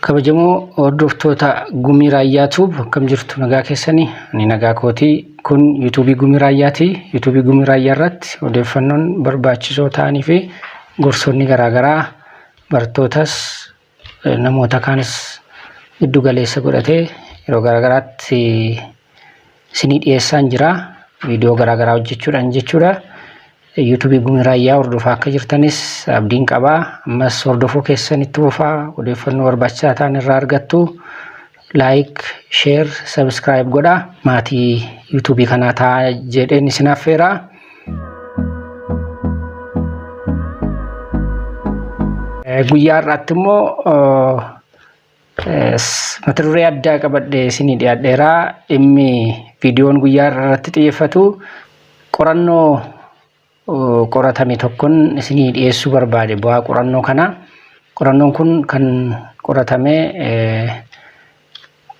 kabajamoo hordoftoota gumii raayyaa tuub akkam jirtu nagaa keessanii ani nagaa kootii kun yuutuubii gumii raayyaati yuutuubii gumii raayyaa irratti odeeffannoon barbaachisoo ta'anii fi gorsoonni garaagaraa barattootas Namoota kaanis giddu galeessa godhatee yeroo garaagaraatti isinii dhiyeessaan jira. Viidiyoo garaagaraa hojjechuudhaan jechuudha. Yuutuubii Gumii Raayyaa hordofaa akka jirtanis abdiin qaba. Ammas hordofuu keessan itti fufaa odeeffannoo barbaachisaa ta'an irraa argattu. like share subscribe godha maatii yuutuubii kanaa taa jedheen isin affeeraa. Guyyaa har'aatti immoo mata duree addaa qabadhee isinii dhiyaadheeraa dhimmi viidiyoon guyyaa irratti xiyyeeffatu qorannoo qoratame tokkon isinii dhiyeessuu barbaade bu'aa qorannoo kanaa. Qorannoon kun kan qoratame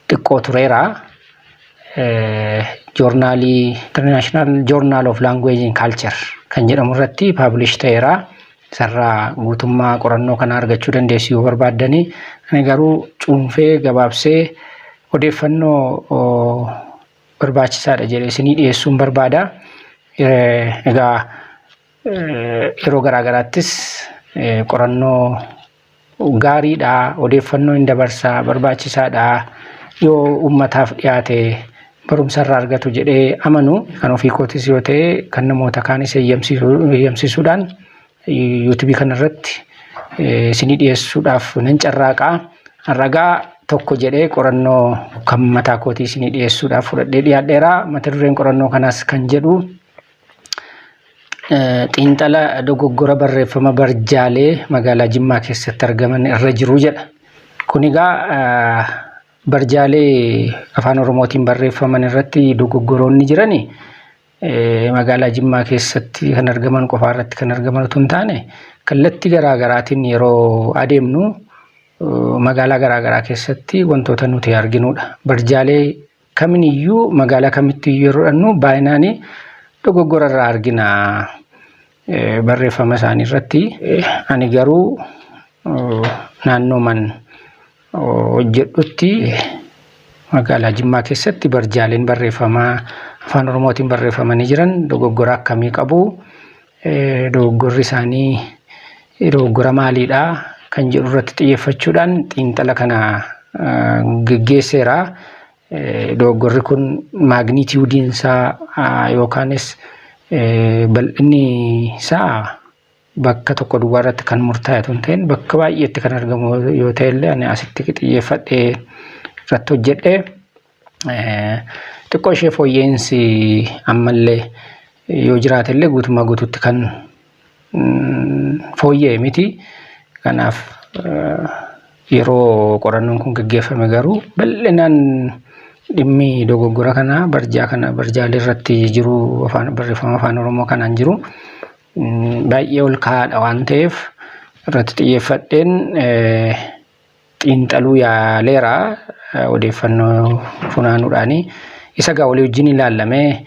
xiqqoo tureera. Joornaalii International Journal of Language and Culture kan jedhamu irratti paablish ta'eera. Isarraa guutummaa qorannoo kanaa argachuu dandeessu yoo barbaaddanii. Ani garuu cuunfee gabaabsee odeeffannoo barbaachisaadha jedhe isinii dhiyeessuun barbaada. Egaa yeroo garaa garaattis qorannoo gaariidha, odeeffannoo hin dabarsa, barbaachisaadha. Yoo uummataaf dhiyaate barumsa irraa argatu jedhee amanu kan ofii kootis yoo ta'e kan namoota kaanis eeyyamsiisuudhaan Yuutubii kana irratti isinii dhiyeessuudhaaf nan carraaqa. Ragaa tokko jedhee qorannoo kan mataa kootii isinii dhiyeessuudhaaf fudhadhee dhiyaadheera. Mata dureen qorannoo kanaas kan jedhu xiinxala dogoggora barreeffama barjaalee magaalaa Jimmaa keessatti argaman irra jiru jedha. Kun egaa barjaalee afaan Oromootiin barreeffaman irratti dogoggoroonni jirani magaalaa Jimmaa keessatti kan argaman qofaa irratti kan argaman utuu hin taane kallattii garaa garaatiin yeroo adeemnu magaalaa garaa garaa keessatti wantoota nuti arginudha. Barjaalee kaminiyyuu magaalaa kamittuu yeroo dhannu baay'inaanii dogoggora irraa argina barreeffama isaanii irratti. Ani garuu naannoo man hojjedhutti magaalaa Jimmaa keessatti barjaaleen barreeffamaa afaan Oromootiin barreeffamanii jiran dogoggora akkamii qabu? Dogoggorri isaanii dogoggora maaliidha? Kan jedhu irratti xiyyeeffachuudhaan xiinxala kana geggeesseera. Dogoggorri kun maagniitiyuudiin isaa yookaanis bal'inni isaa bakka tokko duwwaa irratti kan murtaa'e otoo hin ta'in bakka baay'eetti kan argamu yoo ta'e illee ani asitti xiyyeeffadhee irratti hojjedhe xiqqoo ishee fooyya'insi ammallee yoo jiraate illee guutummaa guutuutti kan fooyya'e miti. Kanaaf yeroo qorannoon kun gaggeeffame garuu bal'inaan dhimmi dogoggora kanaa barjaa kana barjaalee irratti jiru afaan barreeffama afaan oromoo kanaan jiru baay'ee ol ka'aadha waan ta'eef irratti xiyyeeffadheen xiinxaluu yaaleera odeeffannoo funaanuudhaani. Isa gaa walii wajjin ilaallame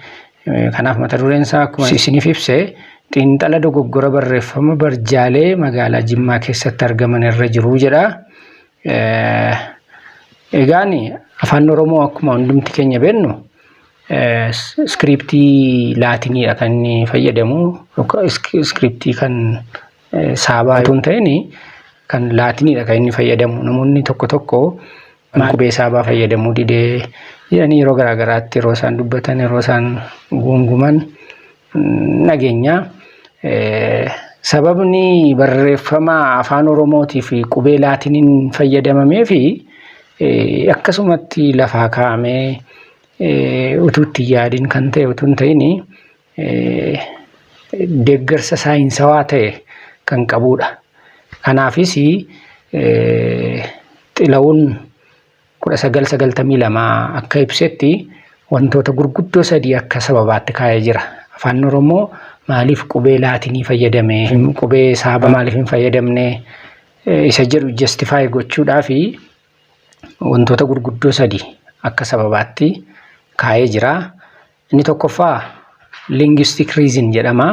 kanaaf mata dureen isaa akkuma isiniif ibse xiinxala dogoggora barreeffama barjaalee magaalaa Jimmaa keessatti argaman irra jiru jedha. Egaan afaan Oromoo akkuma hundumti keenya beennu Iskiriiptii laatiniidha kan inni fayyadamu. Iskiriiptii kan saabaa otoo hin ta'in kan laatiniidha kan inni fayyadamu. Namoonni tokko tokko qubee saabaa fayyadamuu didee jedhanii yeroo garaa garaatti yeroo isaan dubbatan yeroo isaan guunguman dhageenya. Sababni barreeffama afaan Oromootii fi qubee laatiniin fayyadamamee fi akkasumatti lafaa kaa'amee utuu itti yaadin kan ta'e utuu hin ta'in deeggarsa saayinsawaa ta'e kan qabuudha. Kanaafis xila'uun 1992 akka ibsetti wantoota gurguddoo sadii akka sababaatti kaa'ee jira. Afaan Oromoo maaliif qubee laatinii fayyadame? Qubee saaba maaliif hin fayyadamne? Isa jedhu justify gochuudhaafi. wantoota gurguddoo sadi akka sababaatti kaa'ee jira. Inni tokkoffaa linguistic reason jedhama.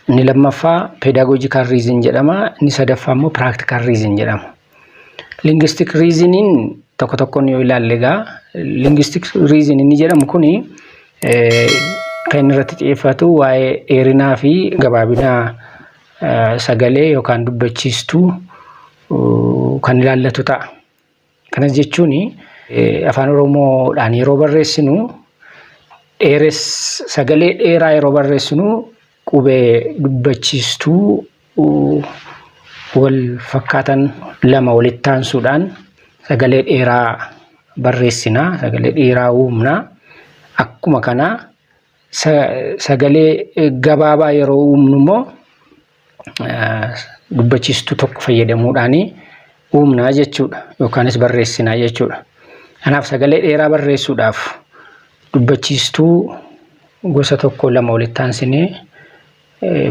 Inni lammaffaa pedagogical reason jedhama. Inni sadaffaa immoo practical reason jedhama. Linguistic reasonin tokko tokkoon yoo ilaalle egaa linguistic reason inni jedhamu kuni kan inni irratti xiyyeeffatu waa'ee dheerinaa fi gabaabinaa sagalee yookaan dubbachiistuu kan ilaallatu ta'a. Kanas jechuun afaan Oromoodhaan yeroo barreessinu dheeres sagalee dheeraa yeroo barreessinu qubee dubbachiistuu wal fakkaatan lama walitti aansuudhaan sagalee dheeraa barreessina, sagalee dheeraa uumna. Akkuma kana Sagalee gabaabaa yeroo uumnu immoo dubbachiistuu tokko fayyadamuudhaan uumnaa jechuudha yookaanis barreessinaa jechuudha. Kanaaf sagalee dheeraa barreessuudhaaf dubbachiistuu gosa tokko lama walitti aansinee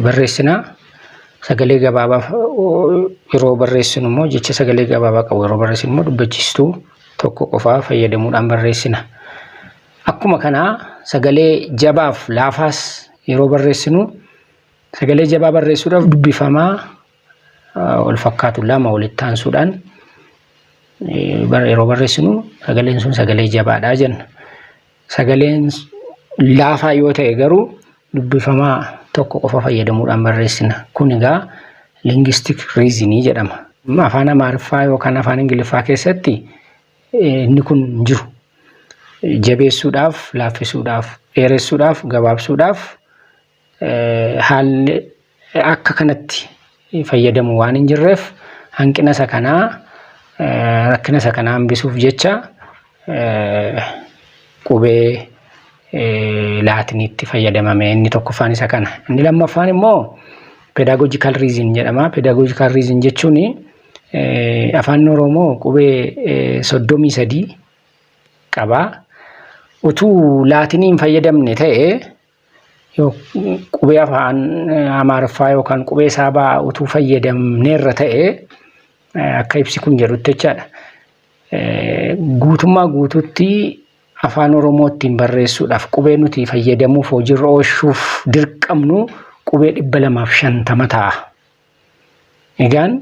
barreessina. Sagalee gabaabaa yeroo barreessinu immoo jecha sagalee gabaabaa qabu yeroo barreessinu immoo dubbachiistuu tokko qofaa fayyadamuudhaan barreessina. Akkuma kanaa sagalee jabaaf laafaas yeroo barreessinu sagalee jabaa barreessuudhaaf dubbifamaa wal fakkaatu lama walitti aansuudhaan yeroo barreessinu sagaleen sun sagalee jabaadha jenna. Sagaleen laafaa yoo ta'e garuu dubbifamaa tokko qofa fayyadamuudhaan barreessina. Kun egaa linguistic reason jedhama. Afaan Amaariffaa yookaan afaan Ingiliffaa keessatti inni kun hin jiru. Jabeessuudhaaf, laaffisuudhaaf, dheeressuudhaaf, gabaabsuudhaaf haalli akka kanatti fayyadamu waan hin jirreef hanqina isa kanaa rakkina isa kanaa hambisuuf jecha qubee laatiniitti fayyadamame inni tokkoffaan isa kana. Inni lammaffaan immoo pedagogical reason jedhama. Pedagogical reason jechuun afaan Oromoo qubee soddomii sadii qaba. Utuu laatiniin fayyadamne ta'e qubee afaan Amaariffaa yookaan qubee saabaa utuu fayyadamneerra ta'e akka ibsi kun jedhutti jechaadha. Guutummaa guutuutti afaan Oromoo ittiin barreessuudhaaf qubee nuti fayyadamuuf hojiirra oolchuuf dirqamnu qubee dhibba lamaaf shantama ta'a. Egaan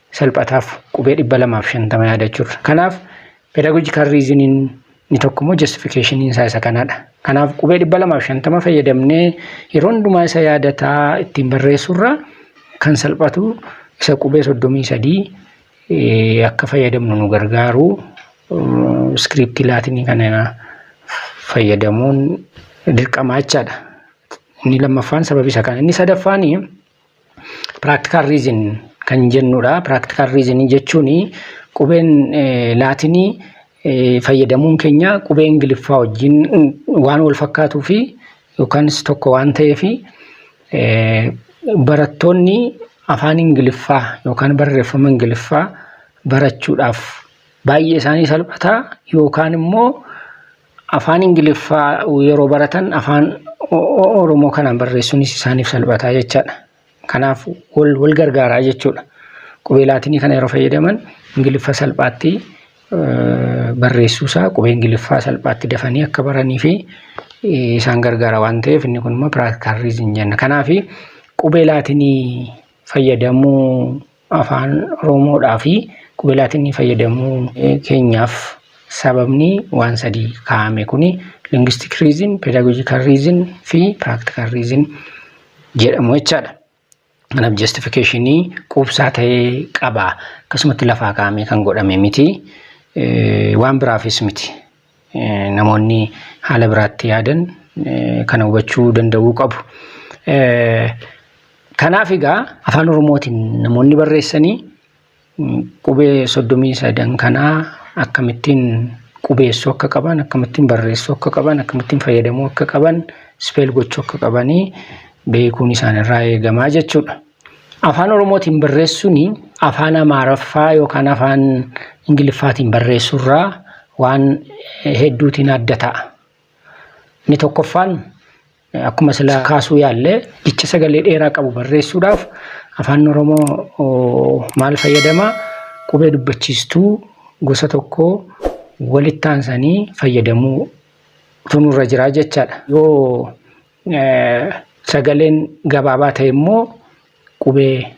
salphataaf qubee 250 yaadachuurra. Kanaaf pedagogical reason inni tokko immoo justification isaa isa kanadha. Kanaaf qubee 250 fayyadamnee yeroo hundumaa isa yaadataa ittiin barreessurra kan salphatu isa qubee 33 akka fayyadamnu nu gargaaru iskiriiptii laatinii kana fayyadamuun dirqamaa jechaadha. Inni lammaffaan sababi isa kana. Inni sadaffaanii Practical reason kan jennudha. Practical reason jechuun qubeen laatinii fayyadamuun keenya qubee ingiliffaa wajjin waan wal fakkaatuu fi yookanis tokko waan ta'eef barattoonni afaan ingiliffaa yookaan barreeffama ingiliffaa barachuudhaaf baay'ee isaanii salphataa yookaan immoo Afaan Ingiliffaa yeroo baratan afaan Oromoo kanaan barreessuunis isaaniif salphataa jechaadha. Kanaaf wal wal gargaaraa jechuudha. Qubee laatinii kana yeroo fayyadaman Ingiliffa salphaatti barreessuusaa qubee Ingiliffaa salphaatti dafanii akka baranii fi isaan gargaara waan ta'eef inni kun immoo piraaktikal riizin jenna. Kanaaf qubee laatinii fayyadamuu afaan Oromodhaa fi qubee Laatinii fayyadamuu keenyaaf sababni waan sadii kaa'ame kuni linguistic reason, pedagogical reason fi practical reason jedhamu jechaadha. Kanaaf justificationii quubsaa ta'ee qaba. Akkasumatti lafaa kaa'amee kan godhame miti. Waan biraafis miti. namoonni haala biraatti yaadan kana hubachuu danda'uu qabu. Kanaaf egaa afaan Oromootiin namoonni barreessanii qubee soddomii sadan kanaa akkamittiin qubeessuu akka qaban, akkamittiin barreessuu akka qaban, akkamittiin fayyadamuu akka qaban, speel gochuu akka qabanii beekuun isaanirraa eegamaa jechuudha. Afaan Oromootiin barreessuun afaan Amaaraffaa yookaan afaan Ingiliffaatiin barreessuurraa waan hedduutiin adda ta'a. Inni tokkoffaan akkuma sila kaasuu yaalle jecha sagalee dheeraa qabu barreessuudhaaf afaan Oromoo maal fayyadama? Qubee dubbachiistuu gosa tokko walitti aansanii fayyadamuu tunurra jira jechaadha. Yoo Sagaleen gabaabaa ta'e immoo qubee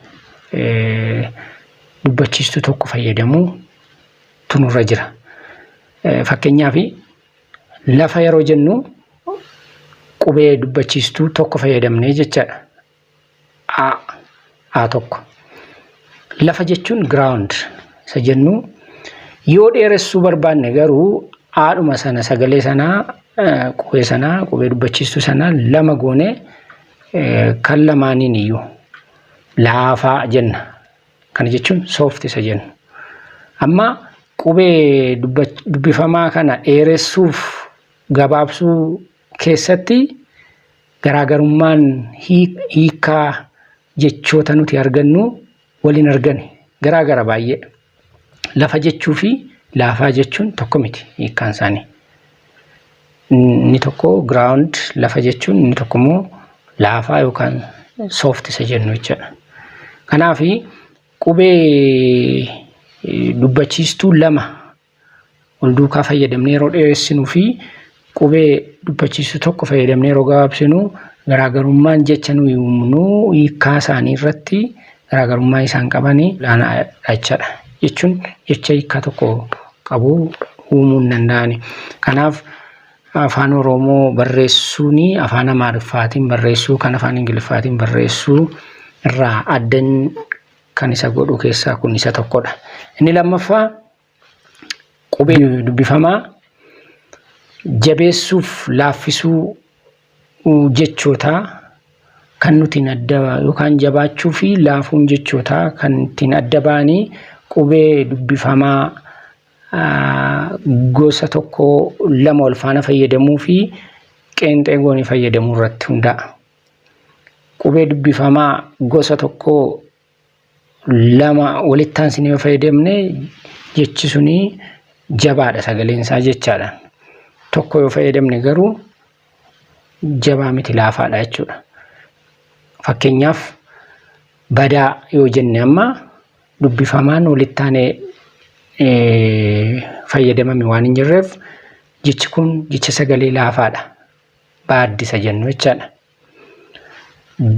dubbachiistuu tokko fayyadamuu tunurra jira. Fakkeenyaaf lafa yeroo jennu qubee dubbachiistuu tokko fayyadamnee jechaadha. a a tokko lafa jechuun ground isa jennu yoo dheeressuu barbaanne garuu aadhuma sana sagalee sanaa qubee sanaa qubee dubbachiistuu sanaa lama goone kan lamaaniin iyyuu laafaa jenna kana jechuun soofti isa jennu amma qubee dubbifamaa kana dheeressuuf gabaabsuu keessatti Garaagarummaan hiikkaa jechoota nuti argannu wal hin argani. Garaa gara baay'ee. Lafa jechuu fi laafaa jechuun tokko miti hiikkaan isaanii. Inni tokko ground lafa jechuun inni tokko immoo laafaa yookaan soft isa jennu jechuudha. Kanaaf qubee dubbachiistuu lama wal duukaa fayyadamnee yeroo dheeressinu fi qubee dubbachiisu tokko fayyadamnee yeroo gabaabsinu garaagarummaan jecha nuyi uumnu hiikkaa isaanii irratti garaagarummaa isaan qaban olaanaadha jechaadha. Jechuun jecha hiikkaa tokko qabu uumuu hin danda'ani. Kanaaf afaan Oromoo barreessuun afaan Amaariffaatiin barreessuu kan afaan Ingiliffaatiin barreessuu irraa adda kan isa godhu keessaa kun isa tokkodha. Inni lammaffaa qubee dubbifamaa jabeessuuf laaffisuu jechootaa kan nuti adda yookaan jabaachuu fi laafuun jechootaa kan ittiin adda ba'anii qubee dubbifamaa gosa tokko lama wal faana fayyadamuu fi qeenxee goonee fayyadamuu irratti hundaa'a. Qubee dubbifamaa gosa tokkoo lama walitti aansinee yoo fayyadamne jechi suni jabaadha sagaleen isaa jechaadha. Tokko yoo fayyadamne garuu jabaa miti laafaadha jechuudha. Fakkeenyaaf badaa yoo jenne amma dubbifamaan walitti aanee fayyadamame waan hin jirreef jechi kun jecha sagalee laafaadha. baaddisa jennu jechaadha.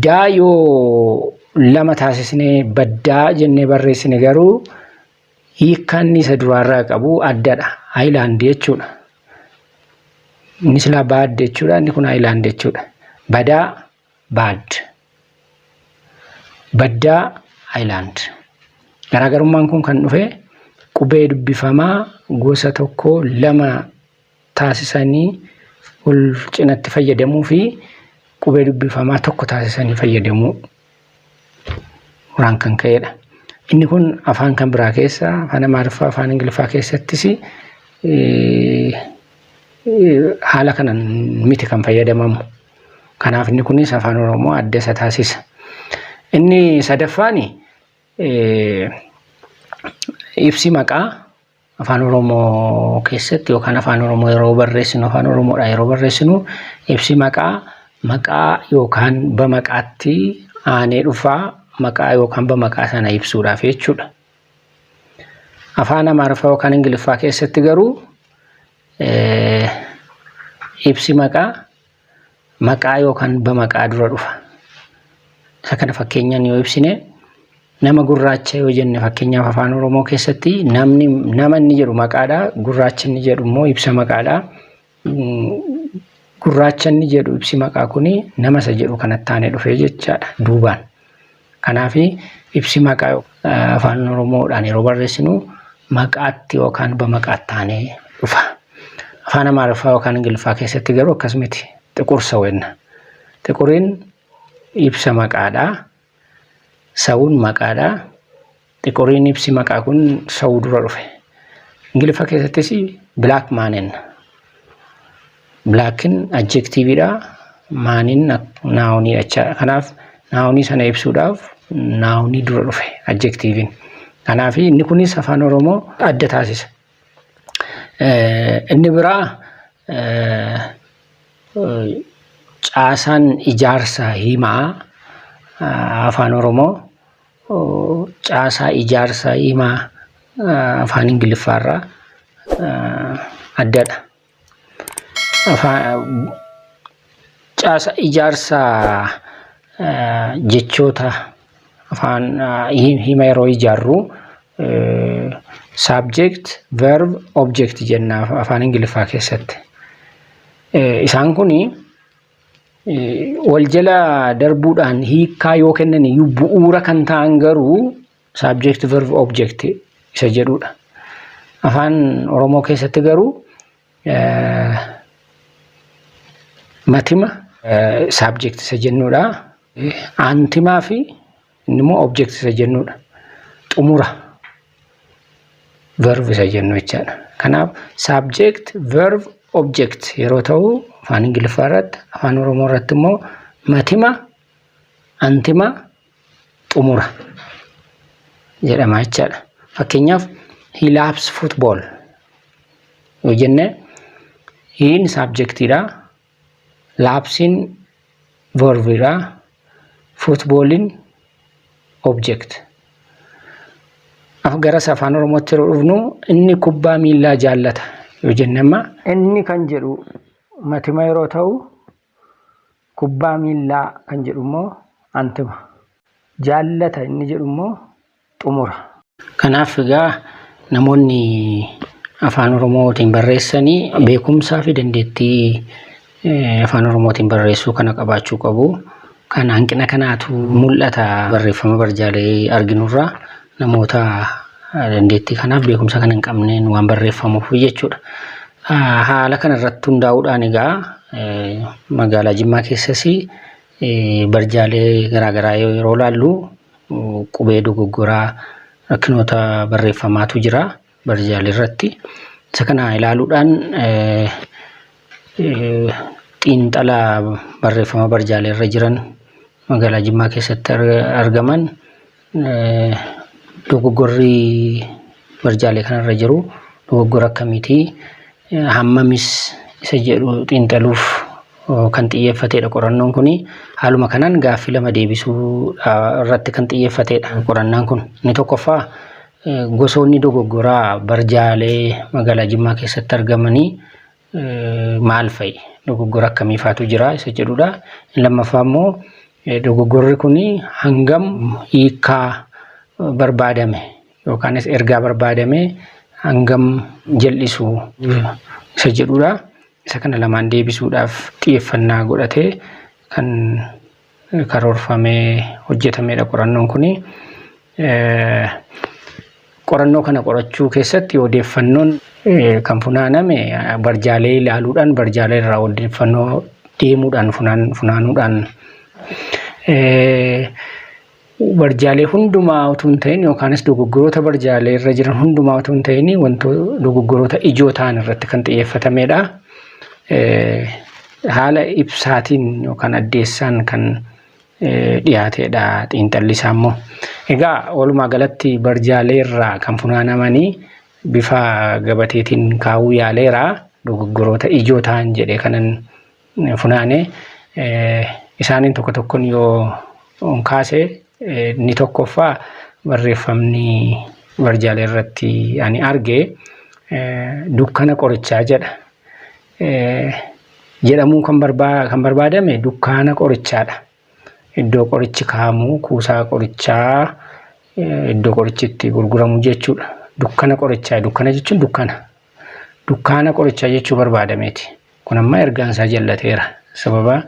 Daa yoo lama taasisnee baddaa jennee barreessine garuu hiikkaan isa duraarraa qabu addadha. Haayilaandi jechuudha. Inni silaa baad jechuudha. Inni kun haayilaandi jechuudha. Badaa baad. Baddaa haayilaand. Garaagarummaan kun kan dhufe qubee dubbifamaa gosa tokko lama taasisanii wal cinatti fayyadamuu fi qubee dubbifamaa tokko taasisanii fayyadamuu irraan kan ka'edha. Inni kun afaan kan biraa keessa afaan Amaariffaa afaan Ingiliffaa keessattis haala kanan miti kan fayyadamamu. Kanaaf inni kunis afaan Oromoo adda isa taasisa. Inni sadaffaan ibsi maqaa Afaan Oromoo keessatti yookaan Afaan Oromoo yeroo barreessinu Afaan Oromoodhaa yeroo barreessinu ibsi maqaa maqaa yookaan bamaqaatti aanee dhufaa maqaa yookaan bamaqaa sana ibsuudhaaf jechuudha. Afaan Amaariffaa yookaan Ingiliffaa keessatti garuu ibsi maqaa maqaa yookaan bamaqaa dura dhufa. Isa kana fakkeenyaan yoo ibsine nama gurraacha yoo jenne fakkeenyaaf afaan Oromoo keessatti namni nama inni jedhu maqaadha gurraacha inni jedhu immoo ibsa maqaadha. Gurraacha inni jedhu ibsi maqaa kuni nama isa jedhu kanatti aanee dhufee jechaadha duubaan. Kanaaf ibsi maqaa afaan Oromoodhaan yeroo barreessinu maqaatti yookaan bamaqaatti taanee dhufa. Afaan Amaariffaa yookaan Ingiliffaa keessatti garuu akkas miti. Xiqur saw jenna. Xiquriin ibsa maqaadha. Sawuun maqaadha. Xiquriin ibsi maqaa kun sa'uu dura dhufe. Ingiliffa keessattis black man enna. Blackin adjektiiviidha, maanin naawunii jechaadha. Kanaaf naawunii sana ibsuudhaaf naawunii dura dhufe adjektiiviin. Kanaaf inni kunis afaan Oromoo adda taasisa. Inni biraa caasaan ijaarsa himaa afaan Oromoo caasaa ijaarsa himaa afaan Ingiliffaa irraa addadha. Caasa ijaarsa jechoota afaan hima yeroo ijaarru subject, verb, object jenna afaan Ingiliffaa keessatti. Isaan kuni wal jala darbuudhaan hiikkaa yoo kennan iyyuu bu'uura kan ta'an garuu saabjekti verb object isa jedhudha. Afaan Oromoo keessatti garuu matima saabjekti isa jennudha. Aantimaa fi Inni immoo object isa jennuudha. Xumura verb isa jennu jechaadha. Kanaaf subject verb object yeroo ta'u afaan Ingiliffaa irratti afaan Oromoo irratti immoo matima antima xumura jedhama jechaadha. Fakkeenyaaf he loves football yoo jenne hiin saabjektiidha Laabsiin verb dha. Football'n object. Af garas afaan Oromootti yeroo dhufnu inni kubbaa miillaa jaallata yoo jenne amma inni kan jedhu matima yeroo ta'u kubbaa miillaa kan jedhu immoo antima. Jaallata inni jedhu immoo xumura. Kanaaf egaa namoonni Afaan Oromootiin barreessan beekumsaafi dandeettii Afaan Oromootiin barreessuu kana qabaachuu qabu. Kan hanqina kanaatu mul'ata barreeffama barjaalee arginurraa namoota dandeettii kanaaf beekumsa kana hin qabneen waan barreeffamuuf jechuudha. Haala kanarratti hundaa'uudhaan egaa magaalaa Jimmaa keessas barjaalee garaagaraa yeroo ilaallu qubee dogoggoraa rakkinoota barreeffamaatu jira barjaalee irratti. Isa kana ilaaluudhaan xiinxala barreeffama barjaalee irra jiran magaalaa Jimmaa keessatti argaman dogoggorri barjaalee kanarra jiru dogoggora akkamiitii hammamis isa jedhu xiinxaluuf kan xiyyeeffateedha qorannoon kun. Haaluma kanaan gaaffii lama deebisuu irratti kan xiyyeeffateedha qorannaan kun. Inni tokkoffaa gosoonni dogoggoraa barjaalee magaalaa Jimmaa keessatti argamanii maal fa'i? Dogoggora akkamii faatu jira isa jedhudha. Inni lammaffaa immoo dogoggorri kun hangam hiikaa barbaadame yookaanis ergaa barbaadame hangam jal'isu isa jedhudha. Isa kana lamaan deebisuudhaaf xiyyeeffannaa godhatee kan karoorfamee hojjetamedha qorannoon kuni. Qorannoo kana qorachuu keessatti odeeffannoon kan funaaname barjaalee ilaaluudhaan barjaalee irraa odeeffannoo deemuudhaan funaanuudhaan barjaalee hundumaa utuu hin ta'in yookaanis dogoggoroota barjaalee irra jiran hundumaa utuu hin ta'in wantoota dogoggoroota ijoo ta'an irratti kan xiyyeeffatameedha. Haala ibsaatiin yookaan addeessaan kan dhiyaateedha xiinxalli isaa immoo. Egaa walumaa galatti barjaalee irraa kan funaanamanii bifa gabateetiin kaa'uu yaaleera dogoggoroota ijoo ta'an jedhee kanan funaane isaaniin tokko tokkon yoo kaase inni tokkoffaa barreeffamni barjaalee irratti ani arge dukkana qorichaa jedha. Jedhamuun kan barbaadame dukkaana qorichaadha. Iddoo qorichi kaa'amu kuusaa qorichaa iddoo qorichi itti gurguramu jechuudha. Dukkana qorichaa dukkana jechuun dukkana. Dukkaana qorichaa jechuu barbaadameeti. Kun amma ergaan isaa jallateera. Sababa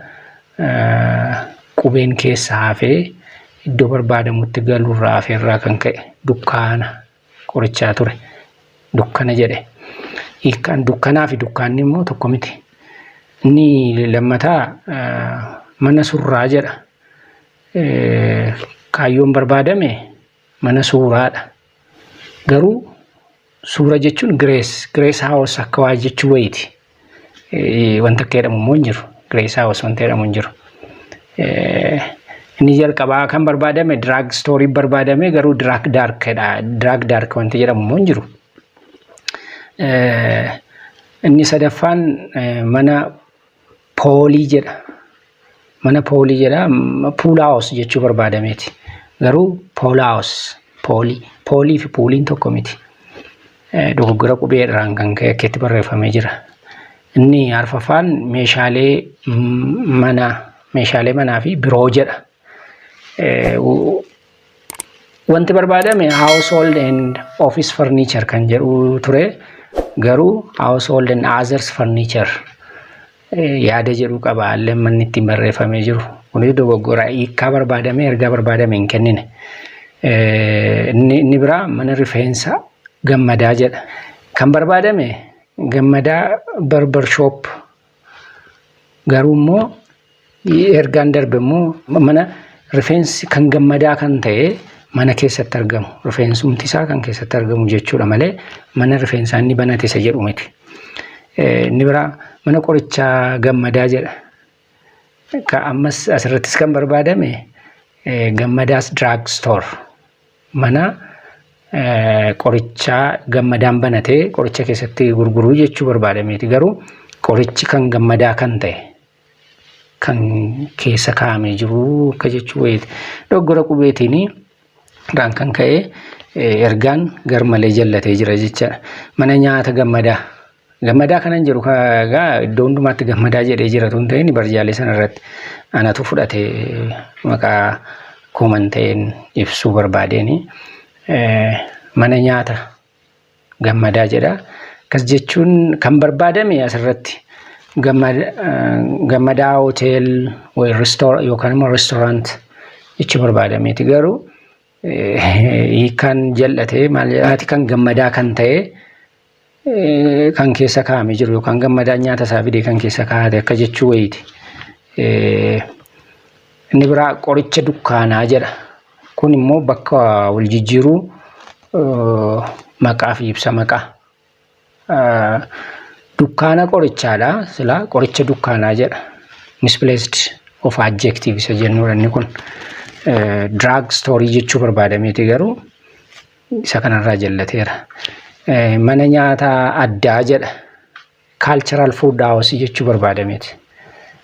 qubeen keessa hafee iddoo barbaadamutti galuurraa hafeerraa kan ka'e dukkaana qorichaa ture. Dukkana jedhe. Hiikkaan dukkanaa fi dukkaanni immoo tokko miti. Inni lammataa mana surraa jedha. Kaayyoon barbaadame mana suuraadha. Garuu suura jechuun Grace, Grace House akka waa jechuu wayiiti. Wanta akka jedhamu immoo hin jiru. Grace House wanta jedhamu hin jiru. Inni jalqabaa kan barbaadame drug story barbaadame garuu drug dark dha. Drug dark wanta jedhamu immoo hin jiru. Inni sadaffaan mana poolii jedha. Mana poolii jedha. Puulaawos jechuu barbaadameeti. Garuu poolaawos poolii. Poolii fi puuliin tokko miti. Dogoggora qubee irraan kan ka'e akkeetti barreeffamee jira. Inni arfaffaan meeshaalee manaa meeshaalee manaa fi biroo jedha. Wanti barbaadame household and office furniture kan jedhu ture garuu household and others furniture yaada jedhu qaba illee manni ittiin barreeffamee jiru kunis dogoggora hiikkaa barbaadame ergaa barbaadame hin kennine inni biraa mana rifeensa gammadaa jedha kan barbaadame gammadaa barbar shop Garuu immoo ergaan darbe immoo mana rifeensi kan gammadaa kan ta'e mana keessatti argamu rifeensumti isaa kan keessatti argamu jechuudha malee mana rifeensaa inni banate isa jedhu miti. Inni biraa mana qorichaa gammadaa jedha. Ka ammas asirrattis kan barbaadame gammadaas drug store mana qorichaa gammadaan banatee qoricha keessatti gurguruu jechuu barbaadameeti garuu qorichi kan gammadaa kan ta'e kan keessa kaa'amee jiru akka jechuu wayiiti doggora qubeetiin irraan kan ka'e ergaan garmalee jallatee jira jechaadha mana nyaata gammadaa Gammadaa kanan jedhu egaa iddoo hundumaatti gammadaa jedhee jira tun ta'in barjaalee sana irratti anatu fudhate maqaa kooman ta'een ibsuu barbaadeen mana nyaata gammadaa jedha. Akkas jechuun kan barbaadame asirratti gammadaa hotel yookaan immoo restoorant jechi barbaadameeti garuu hiikaan jal'atee maal jedhaati kan gammadaa kan ta'e kan keessa kaa'ame jiru yookaan gammadaan nyaata isaa fide kan keessa kaa'ate akka jechuu wayiiti. Inni biraa qoricha dukkaanaa jedha. Kun immoo bakka wal jijjiiruu maqaa fi ibsa maqaa. Dukkaana qorichaadha sila qoricha dukkaanaa jedha. Misplaced of adjective isa jennuudha inni kun. Drug story jechuu barbaadameeti garuu. isa kanarraa jallateera. Mana nyaataa addaa jedha. Cultural food house jechuu barbaada miti.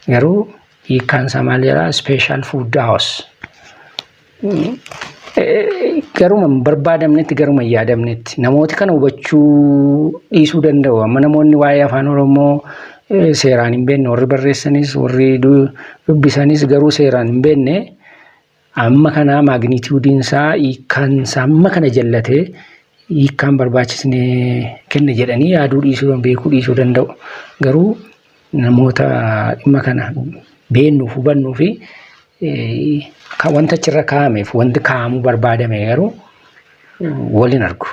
Garuu hiikkaan isaa maal jedhaa? Special food house. Garuma barbaadamnetti garuma yaadamnetti namooti kana hubachuu dhiisuu danda'u. Amma namoonni waa'ee afaan Oromoo seeraan hin beekne warri barreessanis warri dubbisanis garuu seeraan hin beekne Amma kana magnitude isaa hiikkaan isaa amma kana jallate hiikkaan barbaachisne kenna jedhanii yaaduu dhiisuu beekuu dhiisuu danda'u. Garuu namoota dhimma kana beennuuf hubannuu fi wanta achirra kaa'ameef wanti kaa'amuu barbaadame garuu waliin argu.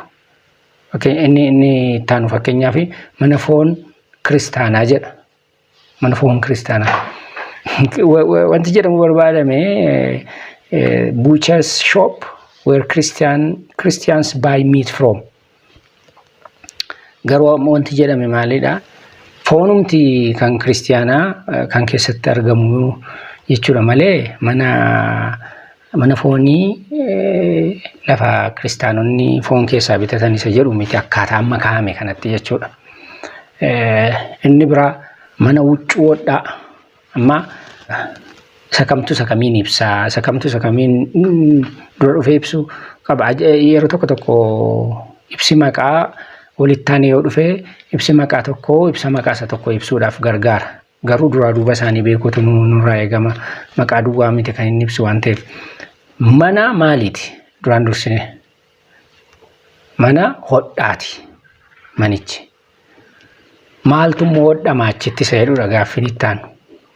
Inni inni ittaanu fakkeenyaaf mana foon kiristaanaa jedha. mana foon kiristaanaa. Wa- wa- Wanti jedhamu barbaadame buuchas shop where Christian Christians buy meat from. Garuu amma wanti jedhame maalidha? Foonumti kan kiristaanaa eh, kan keessatti argamu jechuudha malee mana Mana foonii lafa kiristaanonni foon keessaa bitatan isa jedhu miti akkaataa amma kaa'ame kanatti jechuudha. Inni biraa mana huccuu hodhaa amma isa kamtu isa kamiin ibsaa isa kamtu isa kamiin dura dhufee ibsu qaba yeroo tokko tokko ibsi maqaa walittaan yoo dhufee ibsi maqaa tokko ibsa maqaa isa tokko ibsuudhaaf gargaara. Garuu duraa duuba isaanii beekuutu nu- nurraa eegama. Maqaa duwwaa miti kan inni ibsu waan ta'eef. Manaa maaliiti? Duraan dursine. Mana hodhaati manichi. Maaltu immoo hodhama achitti isa jedhudha gaaffiin itti aanu.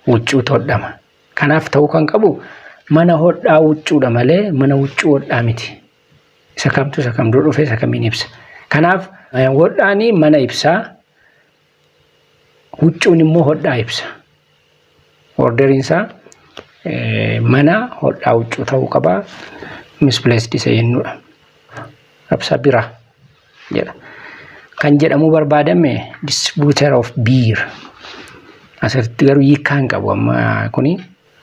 Huccuutu hodhama. Kanaaf ta'uu kan qabu mana hodhaa huccuudha malee mana huccuu hodhaa miti. Isa kamtu isa kam dura dhufe isa kamiin ibsa. Kanaaf eh, hodhaani mana ibsaa Huccuun immoo hodhaa ibsa. Orderiin isaa mana hodhaa huccuu ta'uu qaba. Misplaced isa jennuudha. Rabsa bira jedha. Kan jedhamuu barbaadame distributor of beer. Asirratti garuu hiikkaa hin qabu amma kuni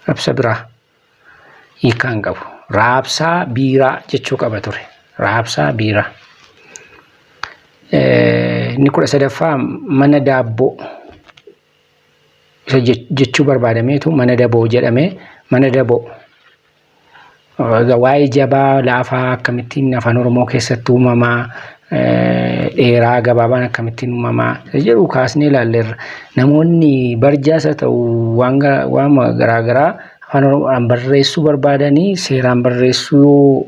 rabsa biraa. hiikaa hin qabu. Raabsaa biiraa jechuu qaba ture. Raabsaa biiraa. Inni kudha sadaffaa mana daabboo isa jechuu barbaadameetu mana daboo jedhamee mana daboo. Waa'ee jabaa laafaa akkamittiin afaan Oromoo keessatti uumamaa dheeraa gabaabaan akkamittiin uumamaa isa jedhu kaasnee ilaalleerra. Namoonni barjaas haa ta'u waan ga- waanuma garaa garaa afaan oromoodhaan barreessuu barbaadanii seeraan barreessuu yoo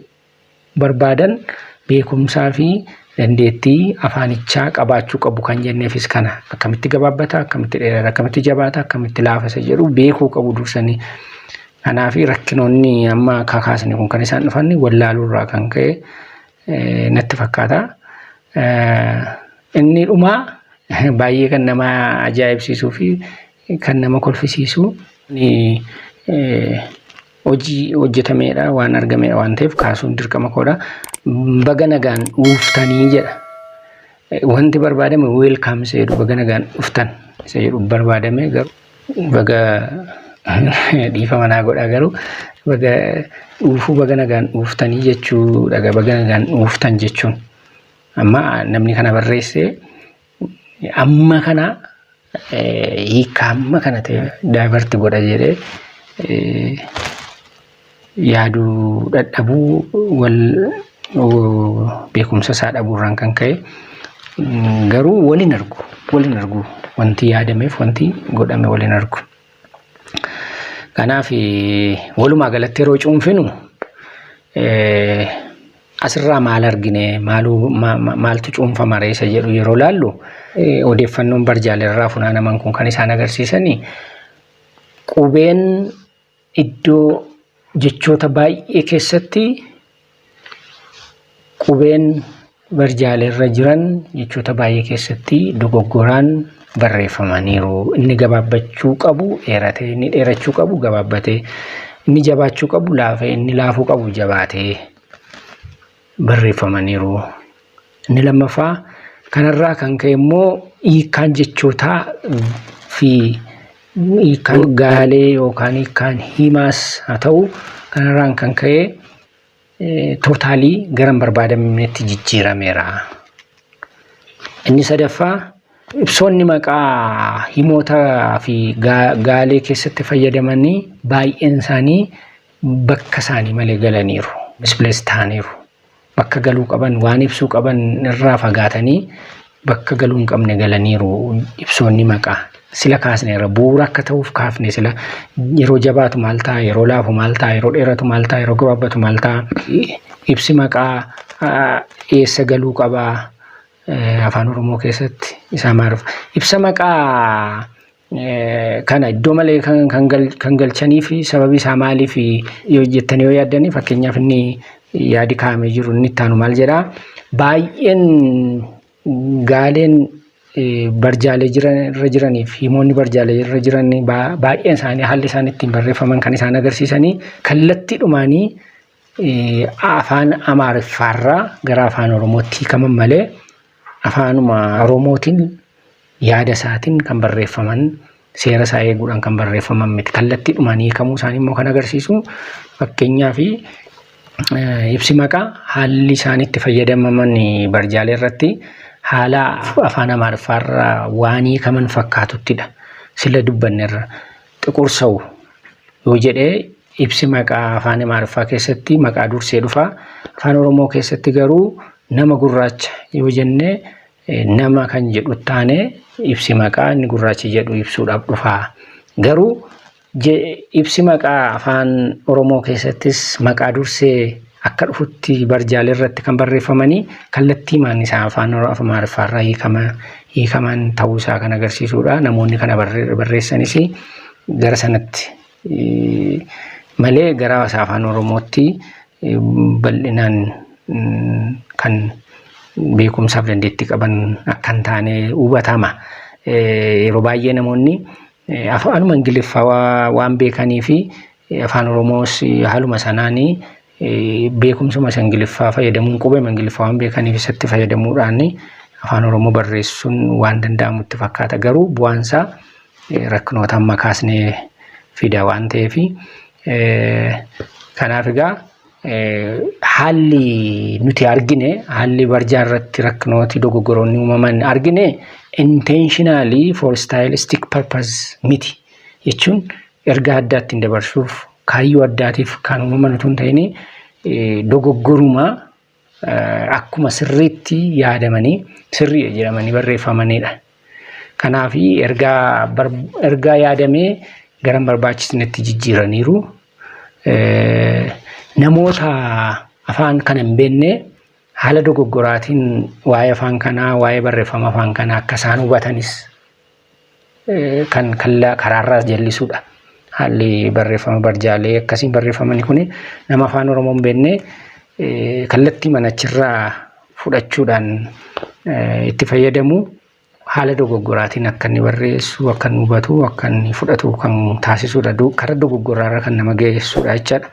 barbaadan beekumsaa fi dandeettii afaanichaa qabaachuu qabu kan jenneefis kana akkamitti gabaabbata akkamitti dheerata akkamitti jabaata akkamitti laafa isa jedhu beekuu qabu dursanii. Kanaaf rakkinoonni amma kakaasne kun kan isaan dhufan wallaaluu irraa kan ka'e natti fakkaata. Inni dhumaa baay'ee kan nama ajaa'ibsiisuu fi kan nama kolfisiisu hojii hojjetameedha waan argameedha waan ta'eef kaasuun dirqama koodha. Baga nagaan dhuftanii jedha. Wanti barbaadame weelkaam isa jedhu baga nagaan dhuftan isa jedhu barbaadame garuu. Baga dhiifama naa godhaa garuu baga dhuufuu baga nagaan dhuuftanii jechuu dhaga baga nagaan dhuuftan jechuun amma namni kana barreesse amma kana hiika amma kana ta'e daayivarti godha jedhee yaaduu dhadhabuu wal beekumsa isaa dhabuurraan kan ka'e garuu waliin argu waliin argu wanti yaadameef wanti godhame waliin argu. Kanaaf walumaa galatti yeroo cuunfinu asirraa maal argine maaltu cuunfama reessa jedhu yeroo laallu odeeffannoon barjaalee irraa funaanaman kun kan isaan agarsiisanii qubeen Iddoo jechoota baay'ee keessatti qubeen barjaalee irra jiran jechoota baay'ee keessatti dogoggoraan barreeffamaniiru. Inni gabaabbachuu qabu dheeratee, inni dheerachuu qabu gabaabbatee, inni jabaachuu qabu laafee, inni laafuu qabu jabaatee. barreeffamaniiru. Inni lammaffaa kanarraa kan ka'e immoo hiikkaan jechootaa fi hiikkaan gaalee yookaan hiikkaan himaas haa ta'u kanarraan kan ka'e tootaalii gara hin barbaadamnetti jijjiirameera. Inni sadaffaa ibsoonni maqaa himootaa fi gaalee keessatti fayyadamanii baay'een isaanii bakka isaanii malee galaniiru, misplace ta'aniiru. Bakka galuu qaban, waan ibsuu qaban irraa fagaatanii bakka galuu hin qabne galaniiru ibsoonni maqaa. Sila kaasneerra bu'uura akka ta'uuf kaafne sila yeroo jabaatu maal ta'a, yeroo laafu maal ta'a, yeroo dheeratu maal ta'a, yeroo gabaabbatu maal ta'a. Ibsi maqaa ah, eessa galuu qabaa eh, afaan Oromoo keessatti isaa maaruf. Ibsa maqaa Kana iddoo malee kan galchanii fi sababi isaa maaliif yoo jettanii yoo yaaddanii fakkeenyaaf inni yaadi kaa'amee jiru inni ittaanu maal jedhaa baay'een gaaleen barjaalee irra jiranii fi himoonni barjaalee irra jiran baay'een isaanii haalli isaan ittiin barreeffaman kan isaan agarsiisanii kallattii dhumaanii afaan amaariffaarraa gara afaan oromootti hiikaman malee Afaanuma Oromootiin yaada isaatiin kan barreeffaman seera isaa eeguudhaan kan barreeffaman miti. Kallattiidhumaan hiikamuu isaanii immoo kan agarsiisu fakkeenyaaf ibsi maqaa haalli isaan itti fayyadamaman barjaalee irratti haala afaan Amaariffaarra waan hiikaman fakkaatuttidha. Sila dubbannerra. Xiqur Sawu yoo jedhe ibsi maqaa afaan Imaariffaa keessatti maqaa dursee dhufa. Afaan Oromoo keessatti garuu nama gurraacha yoo jenne nama kan jedhu taane ibsi maqaa inni gurraachi jedhu ibsuudhaaf dhufa. Garuu ibsi maqaa afaan Oromoo keessattis maqaa dursee akka dhufutti barjaalee irratti kan barreeffamanii kallattiimaan isaa afaan Oro- afaan Amaariffaa irraa hiikama hiikaman ta'uu isaa kan agarsiisudha. Namoonni kana barre- barreessanis gara sanatti eh, malee gara isaa afaan Oromootti eh, bal'inaan mm, kan beekumsaaf dandeettii qaban akka hin taane hubatama. Eh, Yeroo baay'ee namoonni eh, afaanuma Ingiliffaa waa- waan beekanii fi Afaan Oromoos haaluma sanaan beekumsuma isa Ingiliffaa fayyadamuun qubee Ingiliffaa waan beekaniif isatti fayyadamuudhaan afaan Oromoo barreessuun waan danda'amutti fakkaata. Garuu bu'aan isaa rakkinoota amma kaasnee fida waan ta'eef kanaaf egaa haalli nuti argine haalli barjaa irratti rakkinooti dogoggoroonni uumaman argine intentionally for stylistic purpose miti jechuun ergaa addaa ittiin dabarsuuf kaayyoo addaatiif kan uumaman utuu hin ta'in dogoggoruma akkuma sirriitti yaadamanii sirriidha jedhamanii barreeffamanidha. Kanaaf ergaa ergaa yaadamee garan barbaachisnetti jijjiiraniiru. Namoota afaan kana hin beekne haala dogoggoraatiin waa'ee afaan kanaa waa'ee barreeffama afaan kanaa akka isaan hubatanis kan kallaa karaarraas jallisuudha. Haalli barreeffama barjaalee akkasii barreeffamani kun nama afaan Oromoo hin beekne kallattii manachirraa fudhachuudhaan itti fayyadamu haala dogoggoraatiin akka inni barreessu, akka inni hubatu, akka inni fudhatu kan taasisuudha. Karaa dogoggoraarra kan nama geessuudha jechaadha.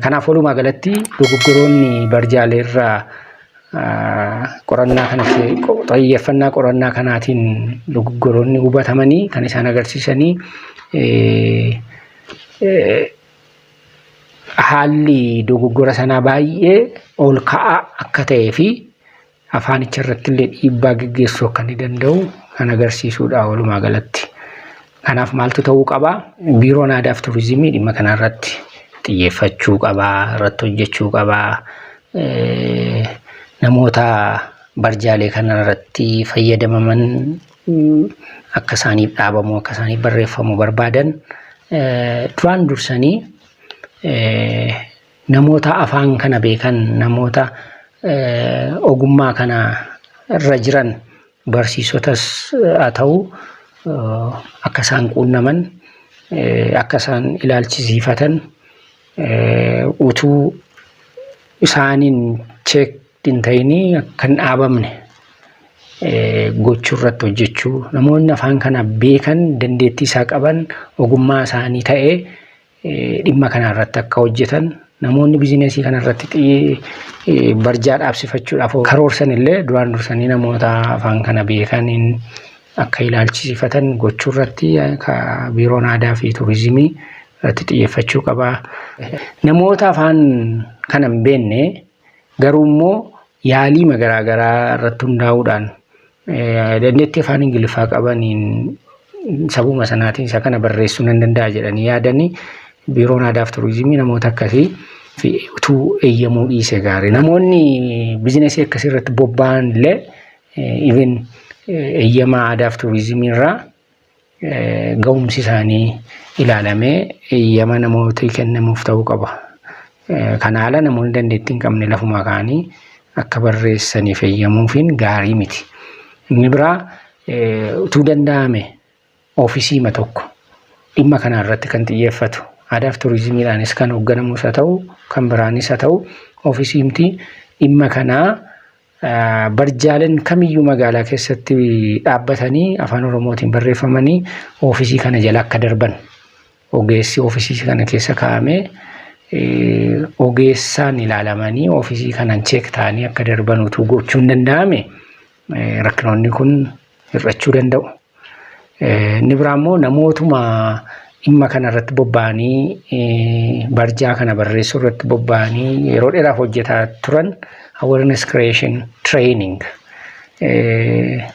Kanaaf walumaa galatti dogoggoroonni barjaalee irraa qorannaa kana xiyyeeffannaa qorannaa kanaatiin dogoggoroonni hubatamanii kan isaan agarsiisanii haalli dogoggora sanaa baay'ee ol ka'aa akka ta'ee fi afaanicha irratti illee dhiibbaa geggeessuu akka ni danda'u kan agarsiisuudha walumaa galatti. Kanaaf maaltu ta'uu qaba? Biiroon Aadaaf Turizimii dhimma kanarratti xiyyeeffachuu qaba, irratti hojjechuu qaba. Namoota barjaalee kanarratti fayyadamaman akka isaaniif dhaabamu, akka isaaniif barreeffamu barbaadan duraan dursanii namoota afaan kana beekan, namoota ogummaa kana irra jiran barsiisotas haa ta'u akka isaan quunnaman akka isaan ilaalchisiifatan utuu isaaniin cheek hin ta'inii akka hin dhaabamne gochuu irratti hojjechuu namoonni afaan kana beekan dandeettii isaa qaban ogummaa isaanii ta'ee dhimma kana irratti akka hojjetan namoonni bizinesii kana irratti xiyye barjaa dhaabsifachuudhaaf karoorsan illee duraan dursanii namoota afaan kana beekaniin akka ilaalchisifatan gochuu irratti biiroon aadaa fi turizimii irratti xiyyeeffachuu qaba. Namoota afaan kana hin beekne Garuu immoo yaaliima garaa garaa irratti hundaa'uudhaan dandeettii afaan Ingiliffaa qabaniin sabuma sanaatiin isa kana barreessuu nan danda'a jedhanii yaadanii biiroon aadaaf turizimii namoota akkasii fi utuu eeyyamuu dhiise gaarii. Namoonni bizinesii akkasii irratti bobba'an illee even eeyyama aadaaf turizimii irraa gahumsi isaanii ilaalamee eeyyama namootii kennamuuf ta'uu qaba. Kana haala namoonni dandeettii hin qabne lafumaa ka'anii akka barreessaniif eeyyamuufiin gaarii miti. Inni biraa utuu danda'ame oofisiima tokko dhimma kana irratti kan xiyyeeffatu aadaaf turizimiidhaanis kan hoogganamus haa ta'u kan biraanis haa ta'u oofisiimti dhimma kanaa Barjaaleen kamiyyuu magaalaa keessatti dhaabbatanii afaan Oromootiin barreeffamanii oofisii kana jala akka darban ogeessi oofisii kana keessa kaa'amee ogeessaan ilaalamanii oofisii kanan cheek ta'anii akka darban utuu gochuun danda'ame rakkinoonni kun hir'achuu danda'u. Inni biraa immoo namootuma dhimma kana irratti bobba'anii barjaa kana barreessuu irratti bobba'anii yeroo dheeraaf hojjetaa turan awareness creation training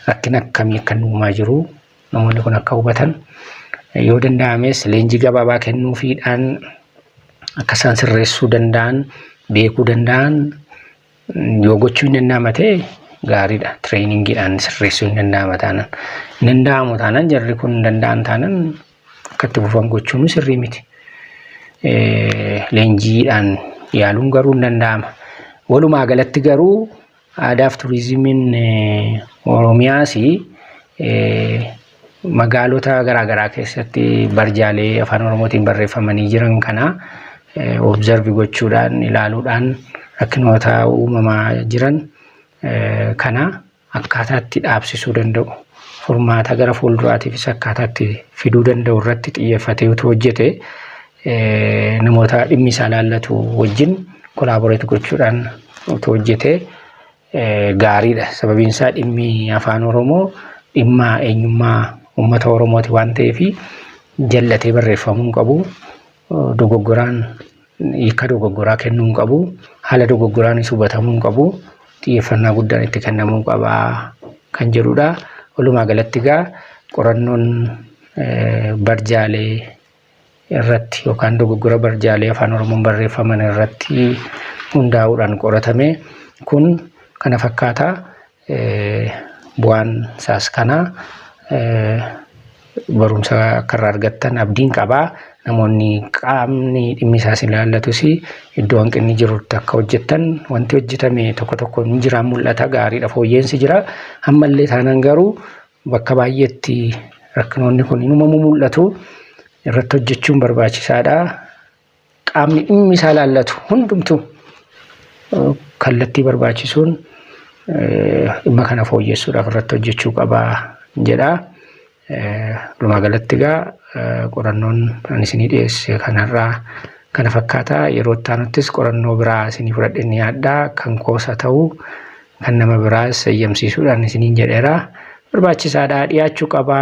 rakkina akkamii akka uumaa jiru namoonni kun akka hubatan yoo danda'ames leenjii gabaabaa kennuufiidhaan akka isaan sirreessuu danda'an beekuu danda'an Yoo gochuu hin danda'ama ta'e gaariidha. Tireeningiidhaan sirreessuu hin danda'ama taanaan. Hin danda'amu taanaan jarri kun hin danda'an taanaan akka itti fufan gochuun sirrii miti. Leenjiidhaan yaaluun garuu hin danda'ama. Walumaa galatti garuu aadaaf turizimiin Oromiyaas Magaalota garaa garaa keessatti barjaalee afaan oromootiin barreeffamanii jiran kana observe gochuudhaan ilaaluudhaan rakkinoota uumamaa jiran kana akkaataatti dhaabsisuu danda'u furmaata gara fuulduraatiifis akkaataatti fiduu danda'u irratti xiyyeeffatee utuu hojjete namoota dhimmi isaa laallatu wajjin kolaaboreet gochuudhaan utuu hojjetee gaariidha. Sababiin isaa dhimmi afaan Oromoo dhimma eenyummaa uummata Oromooti waan ta'eef jallatee barreeffamuu hin qabu. Dogoggoraan hiika dogoggoraa kennuu hin qabu. Haala dogoggoraanis hubatamuu hin qabu. Xiyyeeffannaa guddaan itti kennamuu qaba kan jedhudha. Walumaa galatti egaa qorannoon barjaalee irratti yookaan dogoggora barjaalee Afaan Oromoon barreeffaman irratti hundaa'uudhaan qoratame kun kana fakkaata. Bu'aan isaas kana barumsa akka irraa argattan abdiin qaba. Namoonni qaamni dhimmi isaas ilaallatus iddoo hanqinni jirutti akka hojjettan wanti hojjetame tokko tokko ni jiraan mul'ata gaariidha fooyyeensi jira. Ammallee taanaan garuu Bakka baay'eetti rakkinoonni kun inumamu mul'atu. Irratti hojjechuun barbaachisaadha. Qaamni dhimmi isaa ilaallatu hundumtuu kallattii barbaachisuun dhimma kana fooyyessuudhaaf irratti hojjechuu qaba jedha. Walumaa galatti egaa qorannoon ani isinii dhiyeesse kanarraa kana fakkaata. Yeroo itti aanuttis qorannoo biraa isinii fudhadheen dhiyaadha. Kan koosa ta'u kan nama biraas eeyyamsiisuudhaan isiniin jedheera. Barbaachisaadha, dhiyaachuu qaba,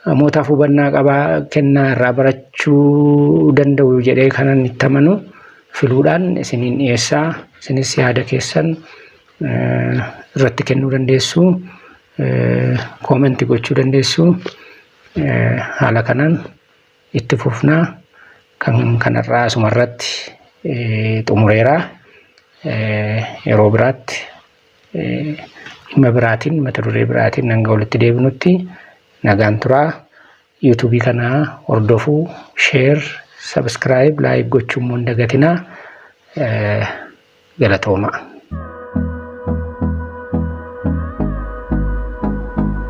namootaaf hubannaa qaba, kennaa irraa barachuu danda'u jedhee kanan itti amanu filuudhaan isiniin dhiyeessa. Isinis yaada keessan irratti kennuu dandeessu, koomenti gochuu dandeessu. Haala kanaan itti fufna kan kanarraa asumarratti xumureera yeroo biraatti dhimma biraatiin mata duree biraatiin hanga walitti deebinutti nagaan turaa yuutuubii kana hordofuu sheer sabiskiraayib laayik gochuu immoo hin dagatinaa galatoomaa.